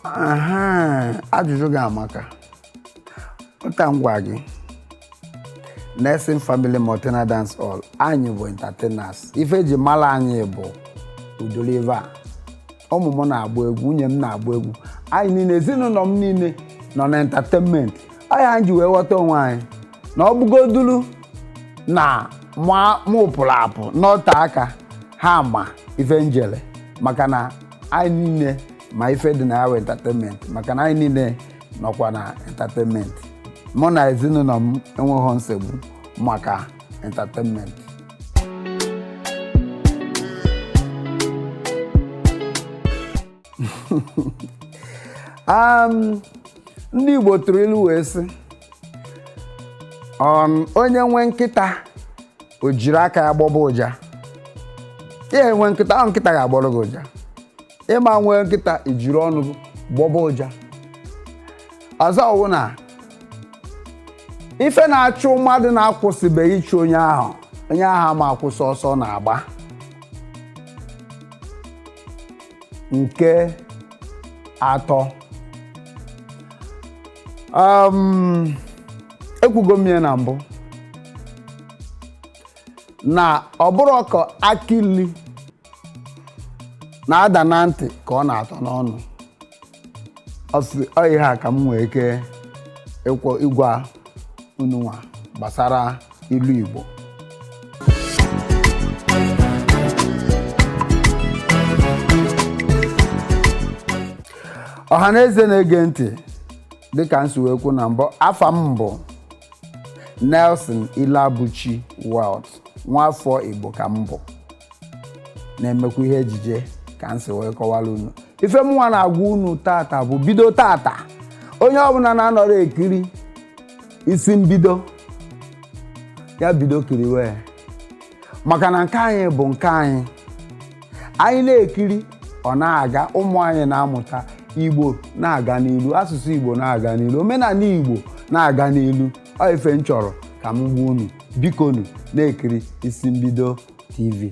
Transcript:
Aha, ajụjụ gị amaka ụta m gwa gị Nelson Family Multina Dance Hall anyị bụ entertainers ife eji mara anyị bụ udolive a ụmụ m na-agba egwu nwunye m na-agba egwu anyị niile ezinụlọ m niile nọ na entertainment anyị anyị ji wee ghọta onwe anyị na ọ bụgodulu na mụ pụrụ apụ nọte aka ha ma ife m jele maka na anyị niile ma ife dị na ya wụ entertainment maka na anyị niile nọkwa na entertainment mụ na ezinụlọ m enweghị nsogbu maka entertainment um, ndị Igbo tụrụ ilu wee sị um, onye nwe nkịta o jiri aka ya gbọba ụja i nwee nkịta ahụ nkịta ga-agbọrọ gị ụja ị ma nwee nkịta i jiri ọnụ gị gbọba ụja ọzọ wụ na ife na-achụ mmadụ na-akwụsịbeghị ịchụ onye ahụ onye ahụ ma akwụsị ọsọ ọ na-agba nke atọ um, ekwugo m ya na mbụ na ọ bụrọ ka akị ilu na-ada na ntị ka ọ na-atọ n'ọnụ ọ sị ọ ihe a ka m nwee ike ịkwọ ịgwa unu nwa gbasara ilu Igbo ọha na eze na-ege ntị dịka m si wee kwu na mbụ afa m bụ Nelson Iloabuchi Wealth nwaafọ Igbo ka m bụ na-emekwa ihe ejije ka m si wee kọwara unu ife mụnwa na-agwa unu tata bụ bido tata onye ọbụla na-anọrọ ekiri isi mbido ya bido kiriwe ya maka na nke anyị bụ nke anyị anyị na-ekiri ọ na-aga ụmụ anyị na-amụta igbo na-aga n'ilu asụsụ igbo na-aga n'ilu omenala igbo na-aga n'ilu ọ ife m chọrọ ka m gwa unu bikonu na-ekiri isi mbido tv